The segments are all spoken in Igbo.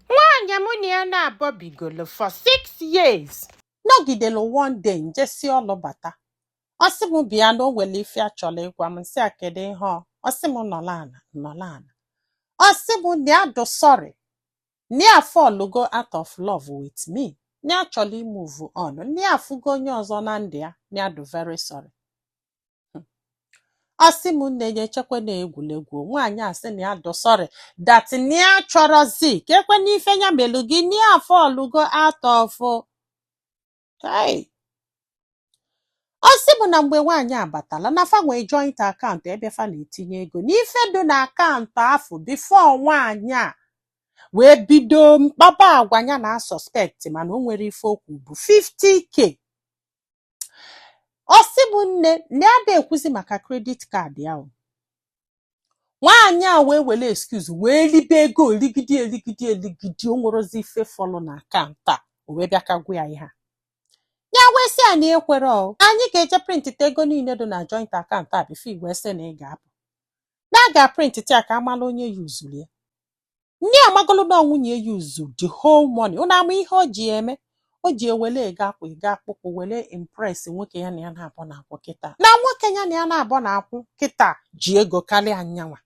Nwaanyị mụ na ya na-abọ bigolo for six years. Nọgidelu one day njesi ọlụ bata. Ọ sị m bịa na o nwere ife ya chọrọ ịgwa m nsị ya kedu ihe ọ ọ sị m nọlụ ana nọlụ ana. Ọ sị m na ya dụ sorry na ya fọlụgo out of love with me na ya chọrọ imove on na ya afụgo onye ọzọ na ndụ ya na ya dụ very sorry. hmm. ọ sị m nne ya echekwa na egwuregwu nwaanyị a sị na ya dụ sorry that na ya chọrọzi ka ekwe n'ife ya melu gị na ya fọlụgo out of hey ọ sị m na mgbe nwaanyị a batala na fa nwee joint akaụntụ ebe fa na-etinye ego n'ife dị na akaụntụ afụ before nwaanyị a wee bido mkpaba agwa ya na-asuspect mana o nwero ife o kwu bụ 50k ọ sị m nne na ya ada ekwuzi maka credit card ahụ nwaanyị a wee were excuse wee libe ego eligidi eligidi eligidi o nwerozi ife fọlụ na akaụntụ a o wee bịa ka gwa ya ihe a ya wee sị ya na ekwerọ anyị ga-eje prịntịta ego niile dị na joint akaụntụ a before i wee sị na ị ga-apụ na a ga-aprịntịta ya ka a mala onye yuzuru ya ndị amagolu na nwunye ya yuzu the whole money ụnụ ama ihe o ji eme o ji ewele ego akwa ego akpụkpụ wele impress nwoke ya na ya na-abọ na-akwụ kịta na nwoke ya na ya na-abọ na-akwụ kịta ji ego karịa nyanwa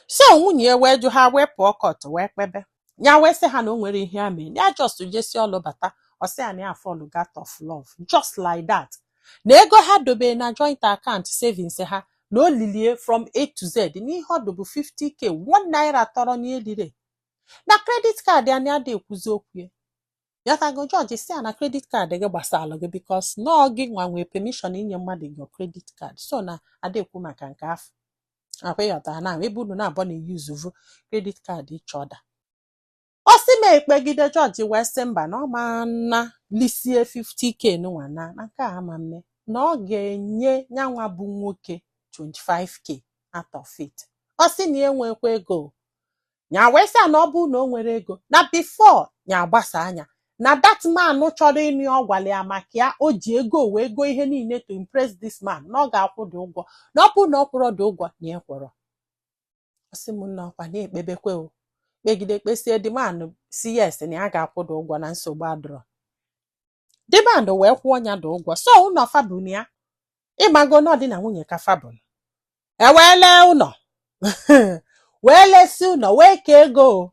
so nwunye ya wee jụ ha wee pụọ court wee kpebe ya wee sị ha na o nwero ihe ya mee ya just jesi ọlụ bata ọ sị ya na ya fọlụgo out of love just like that na ego ha dobere na joint account savings ha na o lilie from A to Z n'ihe ọ dụ bụ 50k one naira tọrọ n'elire na credit card anyị ada ekwuzi okwu ya ya tago judge sị ya na credit card gị gbasara gị because na ọ gị nwa nwee permission inye mmadụ gị credit card so na ada ekwu maka nke afụ ọkwa ị ghọtara na ebe unu na-abọ na-eyuzuvu credit card each other ọ sị m ekpegide judge wee sị mba na ọ ma na lisie 50k nwa na na nke a ama mme na ọ ga-enye nyanwa bụ nwoke 25k out of it ọ sị na ya enwekwa ego ya wee sị ya na ọ bụ na o nwero ego na before ya agbasa anya na that man chọrọ ịnụ ya ọ gwara ya maka ya o ji ego wee goo ihe niile to impress this man na ọ ga-akwụ the ụgwọ na ọ bụrụ na ọ kwụrọ the ụgwọ na ya ekwerọ ọ sị m na ọkwa na-ekpebekwe o kpegide kpesie the man sị yes na ya ga-akwụ the ụgwọ na nsogbu adụrọ the man wee kwụọ ya the ụgwọ so ụnọ fa bu na ya ịmago na ọ di na nwunye ka fa bụ e wee lee ụnọ wee lesi ụnọ wee kee ego o.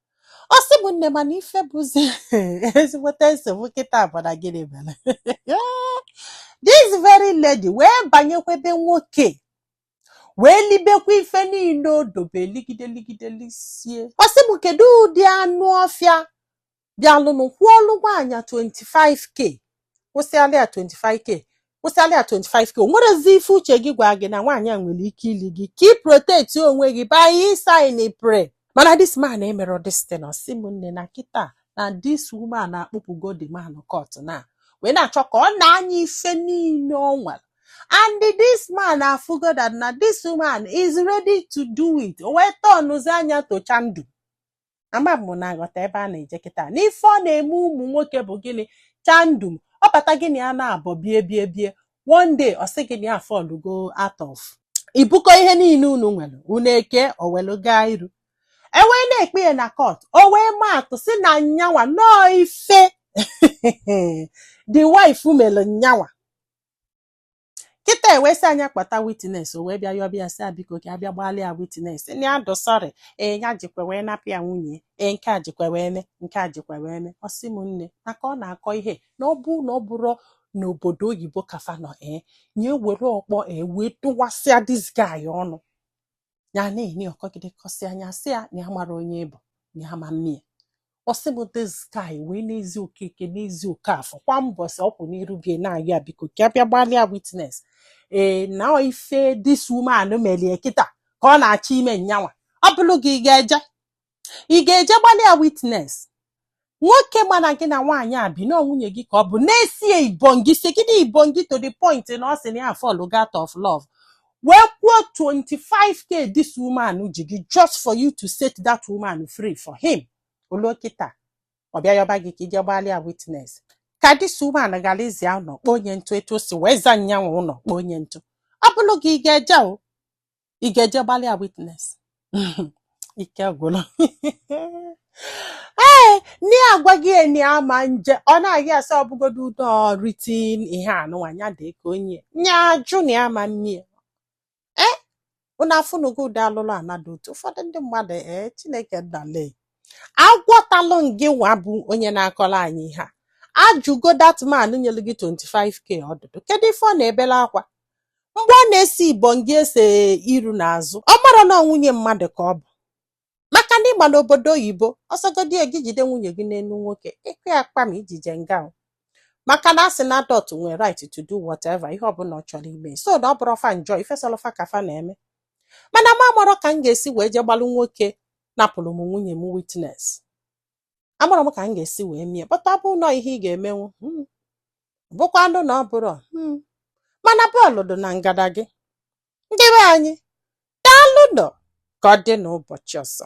ọ sị m nne mana ife bụzi ezigbote nsogbu kịta bụ na gịnị mere this very lady wee banyekwa be nwoke wee libekwa ife niile o dobe ligide ligide lisie ọ sị m kedu ụdị anụ ọfịa bịalụnụ kwụọlụ nwaanyị 25k kwụsịalị ya 25k kwụsịalị ya 25k o nwerezi ife uche gị gwa gị na nwaanyị a nwere ike ili gị ka ị protect onwe gị by ị-sign pre mana this man emerọ this thing ọ sị m nne na kịta na this woman akpụpụgo the man court na wee na-achọ ka ọ naa nya ife niile ọ nwere and this man afụgo that na this woman is ready to do it o wee tọnụzi anya tocha ndụ ama m na aghọta ebe a na-eje kịta n'ife ọ na-eme ụmụ nwoke bụ gịnị chandum ọ bata gị na ya naabọ bie bie bie one day ọ sị gị na ya afallugo out of i bukọ ihe niile unu nwere unu eke o welu gaa iru e wee na-ekpe ya na court o wee maa atụ sị na nyanwa na ọọ ife the wife mere nyanwa kịta e wee sị nya kpọta witness o wee bịa yọba ya sị ya biko ka ọ bịa gbalị ya witness na ya dụ sorry ee ya jikwa wee napụ ya nwunye ya, ee nke a jikwa wee me nke a jikwa wee me ọ sị m nne maka ọ na-akọ ihe na ọ bụ na ọ bụrụ n'obodo oyibo ka fa nọ ee nya ewere ọkpọ ee wee tụwasịa this guy ọnụ ya na-enye ọ kọgide kọsịa nya sị ya na ya mara onye ị bụ na ya ama mmie ọ sị m this guy wee na-ezi okeke na-ezi okafọ kwa mbọsị ọ kwụ n'iru be ya na-ayọ ya biko ka ọ bịa gbalị ya witness ee na ife this woman meli ya kịta ka ọ na-achọ ime nyanwa ọ bụrụ gị ị ga-eje ị ga-eje gbalị ya witness nwoke ma na gị na nwaanyị a bi na ọ nwunye gị ka ọ bụ na-esie ibongi si gị na ibongi to the point na ọ sị na ya afallugo out of love wee kwụọ 25k this woman ji gị just for you to set that woman free for him o luo kịta ọ bịa yọba gị ka i je gbalị ya witness ka this woman ghara ịza ya ụlọ kpoo nya ntụ etu o si wee za nyanwa ụlọ kpoo nya ntụ ọ bụrụ gị ị ga-eje o ị ga-eje gbalị ya witness ike gwụrụ ee nne agwa gị enyi ama nje ọ na-agị asị ọ bụgodu ụdọ ritin ihe anụnwa ya dị ka onye nya jụ na ama mmie ee ụnụ afụnugo ụdị alụlụ ana dụ otu ụfọdụ ndị mmadụ ee chineke nna le agwọtalụ ngị nwa bụ onye na-akọrọ anyị ihe a ajụgo that man nyere gị 25k ọdụdụ kedu ife ọ na-ebele akwa mgbe ọ na-ese ibongi ese iru n'azụ ọ marọ na ọ nwunye mmadụ ka ọ bụ maka na ị ma n'obodo oyibo ọ sọgodi ya gị jide nwunye gị n'elu nwoke ị kụ ya kpam i je-eje nga o. maka na a sị na adult nwere right to do whatever ihe ọbụla ọ chọrọ ime so na ọ bụrọ fa njọ ife sọlụ fa ka fa na-eme mana m amarọ ka m ga-esi wee je gbalụ nwoke napụrụ m nwunye m witness amarọ m ka m ga-esi wee mie but ọ bụrụ na ọ ihe ị ga-emenwu hmm. bụkwa ndụ na ọ bụrụ hmm. mana bọọlụ dị na ngada gị ndị be anyị daalụ nọ ka ọ dị n'ụbọchị ọzọ